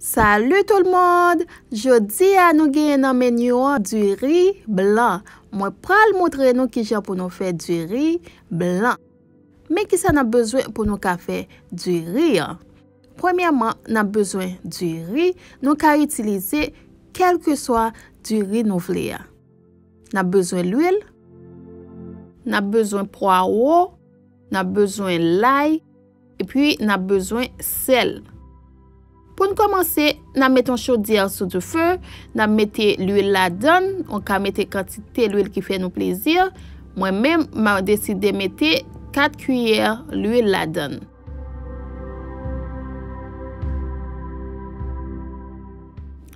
Salut tout le monde! Jodi a nou genyen nan menu an du riz blanc. Mwen pral moutre nou kijan pou nou fè du riz blanc. Men kisa nap bezwen pou nou ka fè du riz an. Premyèman nap bezwen du riz, nou ka itilize kelkeswa du riz nou vle a. Nap bezwen lwil, nap bezwen pwawo, nap bezwen lay. Epi n ap bezwen sèl. Pou n kòmanse, n ap mete yon chodyè sou dife, n ap mete luil ladan l, ou ka mete kantite luil ki fè nou plezi, mwen menm m a deside mete 4 kiyè luil ladan l.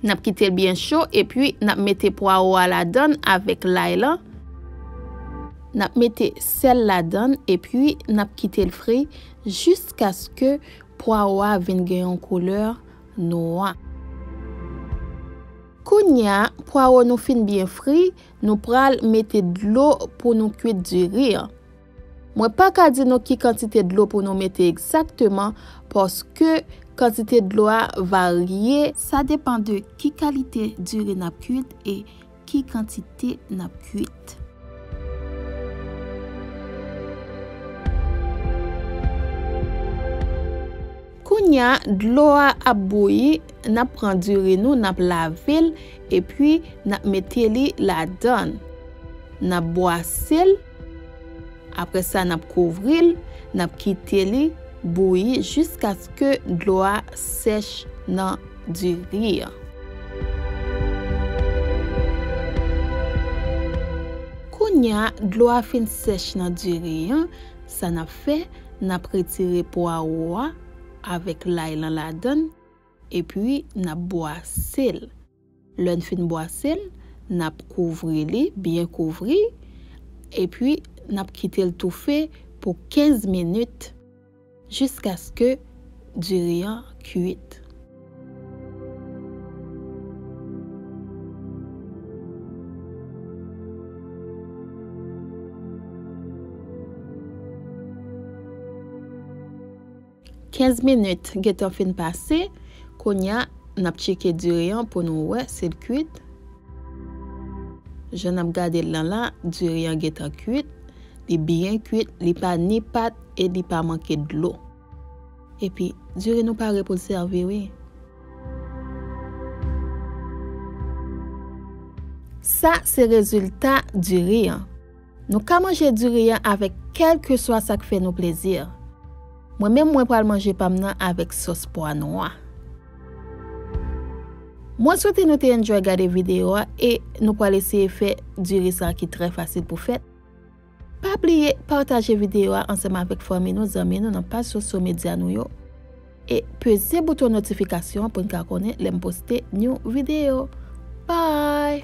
Nap kitel byen cho epi nap mete pwaro a ladann avèk lay lan. Nap mete sèl ladann epi nap kitel fri jiskaske pwaro a vin gen yon koulè nwa. Kounya pwaro nou fin byen fri, nou pral mete dlo pou nou kwit diri an. Mwen pa ka di nou ki kantite dlo pou nou mete egzakteman paske kantite dlo a varye. Sa depan de ki kalite diri n ap kuit e ki kantite n ap kuit. Kounye a, dlo a ap bouyi, n ap pran diri nou, n ap lave l epi n ap mete li ladan l. N ap bwase l. Apre sa n ap kouvri l, n ap kite li bouyi jiskaske dlo a sèch nan diri an. Kounya dlo a fin sèch nan diri an, sa n ap fè, n ap retire pwawo a avèk lay lan ladan l, epi n ap bwase l. Lè n fin bwase l, n ap kouvri li, byen kouvri, epi n ap kite l toufe pou 15 minit jiskaske diri an kuit. 15 minit gentan fin pase, kounya nap tcheke diri an pou nou wè sil kuit, jan nap gadel lan la diri an gentan kuit, li byen kuit li pa ni pat e li pa manke dlo epi diri nou pare poul sèvi wi. Sa se rezilta diri an. Nou ka manje diri an avèk kèlkeswa sa k fè nou plezi. Mwen menm mwen pral manje pa m nan avèk sòs pwa nwa. Mwen swete nou te enjoy gade videyo a e nou pral eseye fè diri sa ki trè fasil pou fèt. Pa bliye pataje videyo a ansanm avèk fanmi nou, zanmi nou nan paj sosyo medya nou yo. E peze bouton notifikasyon an pou n ka konnen lè m poste new video. Bye!